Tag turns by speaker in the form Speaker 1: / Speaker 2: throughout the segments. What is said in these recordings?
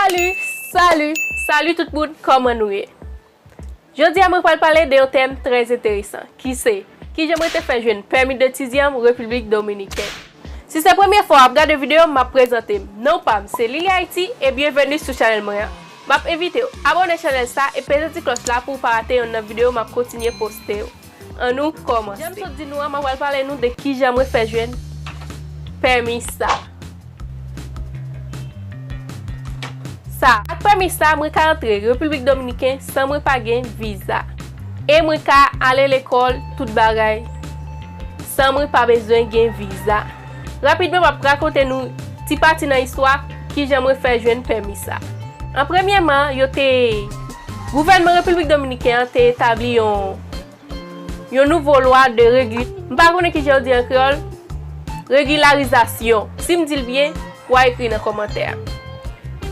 Speaker 1: Salut Salut Salut tout moun kòman nou ye Jodia mwen pral pale de yon tèm trè enteresan ki se kijan mwen te fè jwenn pèmi detidyanm Repiblik Dominiken Si se premye fwa wap gade videom map prezantem non pam se Lili Haiti e byenveni sou chanèl mwen an map envitew abòne chanèl sa e peze ti klòch la pouw pa rate yonn nan video map kontinye poste yo. An nou komanse. Janm sot di nou an mwen pral pale nou de kijan mwen fè jwenn pèmis sa. Sa. Ak pèmis sa mwen ka antre Repiblik Dominiken san mwen pa gen viza. E mwen ka ale lekòl tout bagay san mwen pa bezwen gen viza. Rapidman m ap rakonte nou ti pati nan istwa kijan mwen fè jwenn pèmi sa. An premyèman, yo te, gouvènman Repiblik Dominiken an te etabli yon yon nouvo lwa de regi, m pa konnen kijan yo di an kreyòl, regilarizasyon. Si m di l byen, w a ekri nan kòmantè a.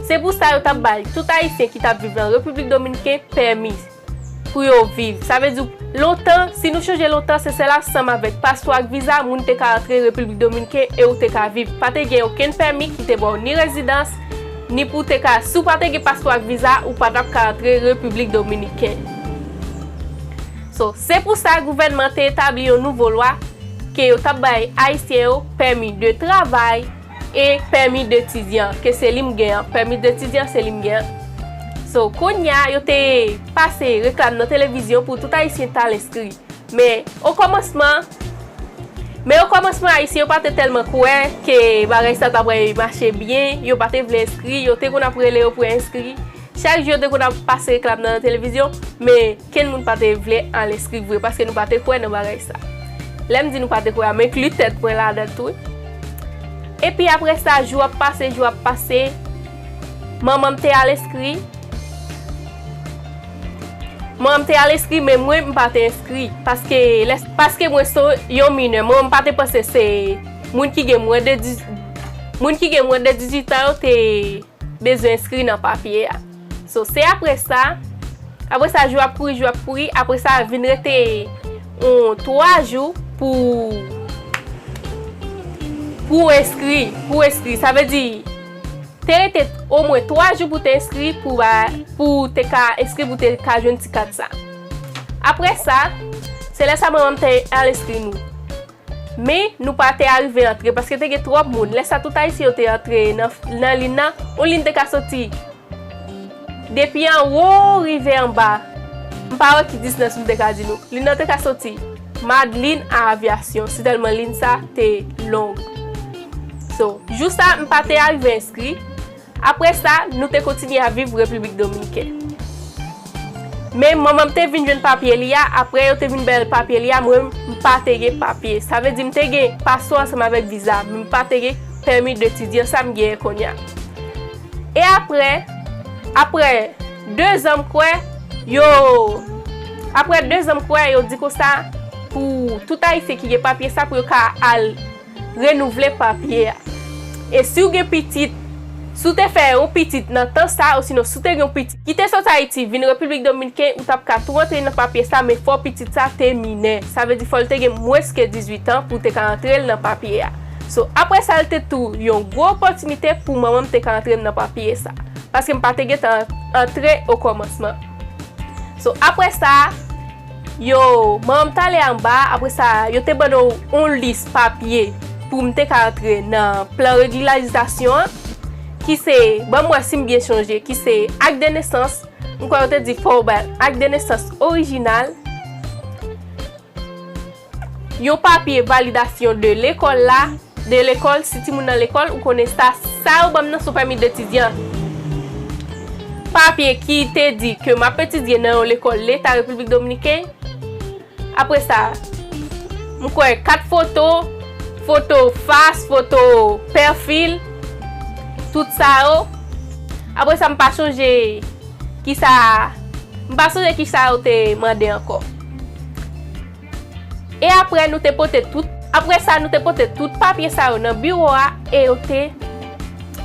Speaker 1: Se pou sa yo t ap bay tout Ayisyen ki t ap viv nan Repiblik Dominiken pèmi. Pou yo viv. Sa vle di, lontan, si nou chonje lontan, se sèl ansanm avèk paspò ak viza moun te ka antre Repiblik Dominiken e ou te ka viv. Pa te gen okenn pèmi ki te ba w ni rezidans, ni pou w te ka, si w pa te gen paspò ak viza, ou pa t ap ka antre Repiblik Dominiken. So, se pou sa gouvènman te etabli yon nouvo lwa ke yo t ap bay Ayisyen yo pèmi de travay, E pèmi detidyan ke se li m gen an, pèmi detidyan se li m gen an. So, kounye a, yo te pase reklam nan televizyon pou tout Ayisyen t al enskri. Men, okòmansman, men okòmansman Ayisyen yo pa te tèlman kwè ke bagay sa ta pral mache byen, yo pa te vle enskri, yo te konn ap rele yo pou enskri. Chak jou yo te konn ap pase reklam nan televizyon, men. Kenn moun pa te vle al enskri vre paske nou pa te kwè nan bagay sa. Lè m di nou pa te kwè a, m enkli tèt mwen ladan tou wi. Epi apre sa, jou ap pase, jou ap pase, manman m te al enskri. Manman m te al enskri men mwen, m pa te enskri. Paske lè, paske mwen se yon minè, manman m pa te panse se moun ki gen mwen de, moun ki gen mwen de 18 an yo te bezwen enskri nan papye a. So se apre sa, apre sa jou ap kouri, jou ap kouri, apre sa vin rete yon 3 jou pou pou w enskri, pou w enskri. Sa vle di, te rete omwen 3 jou pou te enskri pou ba, pou w te ka enskri pou w te ka jwenn ti kat sa. Apre sa, se lè sa manman m te al enskri nou. Men, nou pa te arive antre, paske te gen twòp moun. Lè sa, tout Ayisyen yo te antre nan lin nan. Yon lin te ka soti depi anwo rive anba. M pa wè ki distans m te ka di nou. Lin nan te ka soti Madlin a Avyasyon, si tèlman lin sa te long. So, jou sa, m pa te arive enskri. Apre sa, nou te kontinye ap viv Repiblik Dominiken. Men, manman m te vin jwenn papye li a, apre yo te vin bay l papye li a, mwen menm, m pa te gen papye. Sa vle di m te gen paspò ansanm avèk viza, men m pa te gen pèmi detidyan, sa m genyen kounye a. E apre, apre dezan m kwè, yo, apre dezan m kwè, yo di konsa, pou tout Ayisyen ki gen papye sa, pou yo ka al. Renouvle papye a. E si w gen pitit, si w te fè yon pitit nan tan sa a osinon si w te gen yon pitit ki te sot Ayiti vin Repiblik Dominken, ou t ap ka tou antre nan papye sa men fò pitit sa a te minè. Sa vle di fò l te gen mwens ke 18 an pou w te ka antre l nan papye a. So, apre sa l te tou yon gwo opòtinite pou manman m te ka antre m nan papye sa. Paske m pa te gentan antre okòmansman. So, apre sa. Yo man m t ale anba a, apre sa yo te ban nou yon lis papye pou m te ka antre nan plan regilarizasyon an, ki se, ban m wè si m byen sonje, ki se ak de nesans, m kwè yo te di fò w bay ak de nesans orijinal. Yon papye validasyon de lekòl la, de lekòl, si timoun nan lekòl, ou konnen sa, sa yo banm nan son pèmi detidyan, papye ki te di ke map etidye nan yon lekòl leta Repiblik Dominiken, apre sa, m kwè kat foto, foto fas, foto pèfil, tout sa yo, apre sa m pa chonje. Kisa, m pa sonje kisa yo te mande ankò. E apre nou te pote tout, apre sa nou te pote tout papye sa yo nan biwo a e yo te,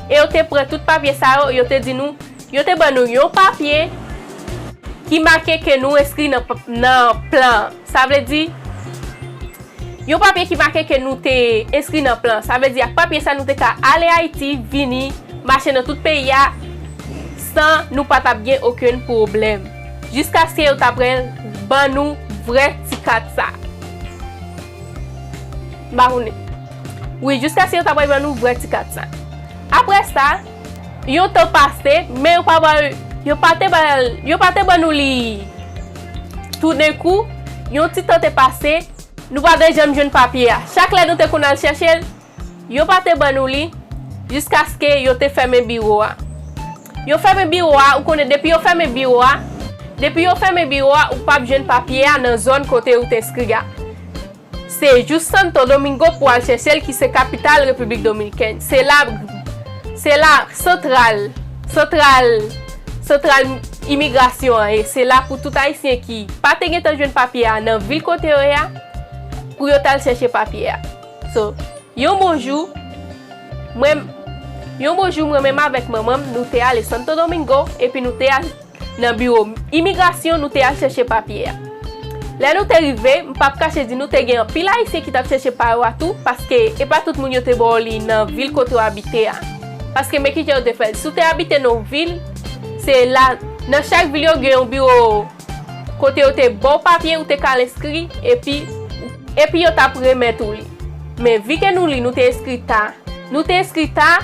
Speaker 1: e yo te pran tout papye sa yo, yo te di nou, yo te ban nou yon papye ki make ke nou enskri nan, nan plan an. Sa vle di, yon papye ki make ke nou te enskri nan plan. Sa vle di ak papye sa nou te ka ale Ayiti, vini, mache nan tout peyi a, san nou pa tap gen okenn pwoblèm. Jiskaske yo ta pral ban nou vrè ti kat sa. M pa konnen. Wi, jiskaske yo ta pral ban nou vrè ti kat sa. Aprè sa. Yon tan pase, men yo pa ba l, yo pa te ba l, yo pa te ban nou li. Toudenkou, yon ti tan te pase, nou pa te janm jwenn papye a. Chak lè nou te konn al chèche l, yo pa te ban nou li, jiskaske yo te fèmen biwo a. Yo fèmen biwo a, ou konnen depi yo fèmen biwo a, depi yo fèmen biwo a, ou pap jwenn papye a nan zòn kote ou t enskri a. Se jous Santo Domingo pou al chèche l ki se kapital Repiblik Dominikèn. Se la, se la santral, santral, santral imigrasyon an ye. Se la pou tout Ayisyen ki pa te gentan jwenn papye a nan vil kote yo ye a, pou yo t al chèche papye a. So, yon bon jou, mwen, yon bon jou mwen menm avèk manman m, nou te ale Santo Domingo, epi nou te al. Nan biwo imigrasyon nou te al chèche papye a. Lè nou te rive, m p ap kache di nou te gen anpil Ayisyen ki t ap chèche pa yo a tou, paske e pa tout moun yo te ba w li nan vil kote w abite a. Paske men kijan yo te fè l, si w te abite nan yon vil, se la, nan chak vil yo gen yon biwo kote yo te ba w papye, ou te ka al enskri, epi, epi yo t ap remèt ou li. Men vi ke nou li nou te eskri ta. Nou te eskri ta,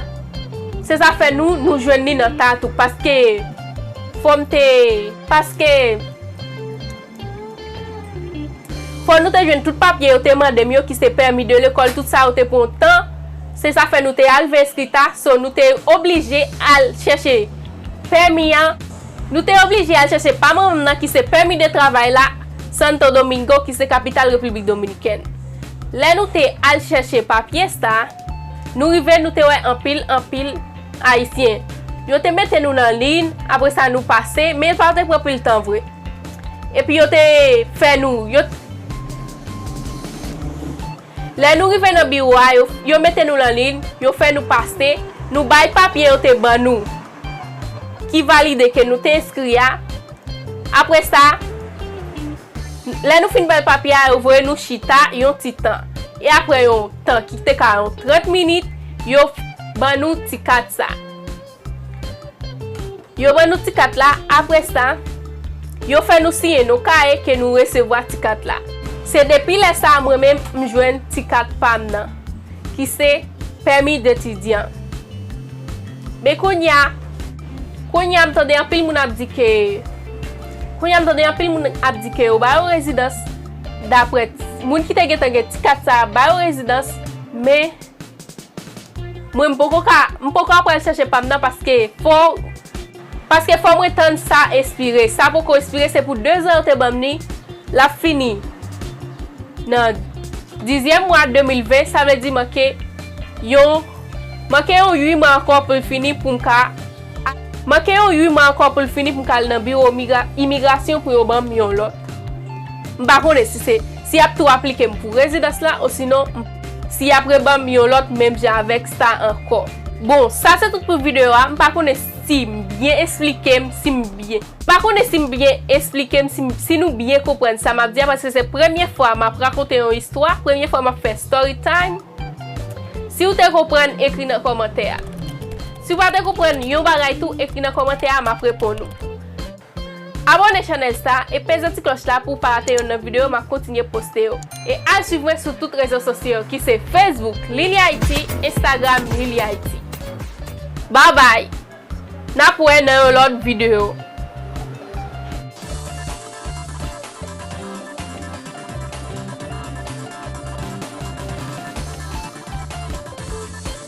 Speaker 1: se zafè nou, nou jwenn li nan ta tou paske fò m te, paske fò nou te jwenn tout papye yo te mande m yo ki se pèmi de lekòl tout sa yo te pran tan, se zafè nou te arive eskri ta, so nou te oblije al chèche pèmi an. Nou te oblije al chèche pa manman m nan ki se pèmi de travay la Santo Domingo ki se kapital Repiblik Dominikèn. Lè nou te al chèche papye sa, nou rive nou te wè anpil, anpil Ayisyen. Yo te mete nou nan liy, apre sa nou pase, men pa te pran pil tan vre. Epi yo te fè nou, yo. Lè nou rive nan biwo a, yo mete nou lan liy, yo fè nou pase, nou bay papye yo te ban nou ki valide ke nou te enskri a. Apre sa, lè nou fin bay papye a, yo voye nou chita yon ti tan. E apre yon tan ki te ka yon 30 minit, yo ban nou ti kat sa. Yo ban nou ti kat la, apre sa, yo fè nou siyen nou kaye ke nou resevwa ti kat la. Se depi lè sa a mwen menm m jwenn ti kat pa m nan, ki se Permis d'étudiant. Men kounye a, kounye a m tande anpil moun ap di ke, kounye a m tande anpil moun ap di ke yo ba yo rezidans, dapre, moun ki te gentan gen ti kat sa a ba yo rezidans, men. Mwen m poko ka, m poko ap pral chèche pam nan paske fo, paske fò mwen tann sa espire, sa poko espire se pou 2 zan yo te banm ni, lap fini nan dizyèm mwa 2020 sa vle di manke yon, manke yon 8 mwa ankò poul fini poum ka. Manke yon 8 mwa ankò pou l fini pou m ka al nan biwo imigrasyon pou yo ban m yon lòt. M pa konnen si se si y ap tou aplike m pou rezidans la osinon si y ap reban m yon lòt menm jan avèk sa ankò. Bon, sa se tout pou videyo a, m pa konnen si m byen esplike m, si m byen. M pa konnen si m byen esplike m, si nou byen konprann sa m ap di a paske se premye fwa m ap rakonte yon istwa, premye fwa m ap fè story time. Si ou te konprann, ekri nan kòmantè a. Si w pa te konprann yon bagay tou ekri nan kòmantè a map reponn ou. Abòne chanèl sa e peze ti klòch la pou w pa rate yonn nan videyo map kontinye poste yo. E al swiv mwen sou tout rezo sosyo yo ki se Facebook Lily Haiti Instagram Lily Haiti. Babay! Nap wè nan yon lòt videyo.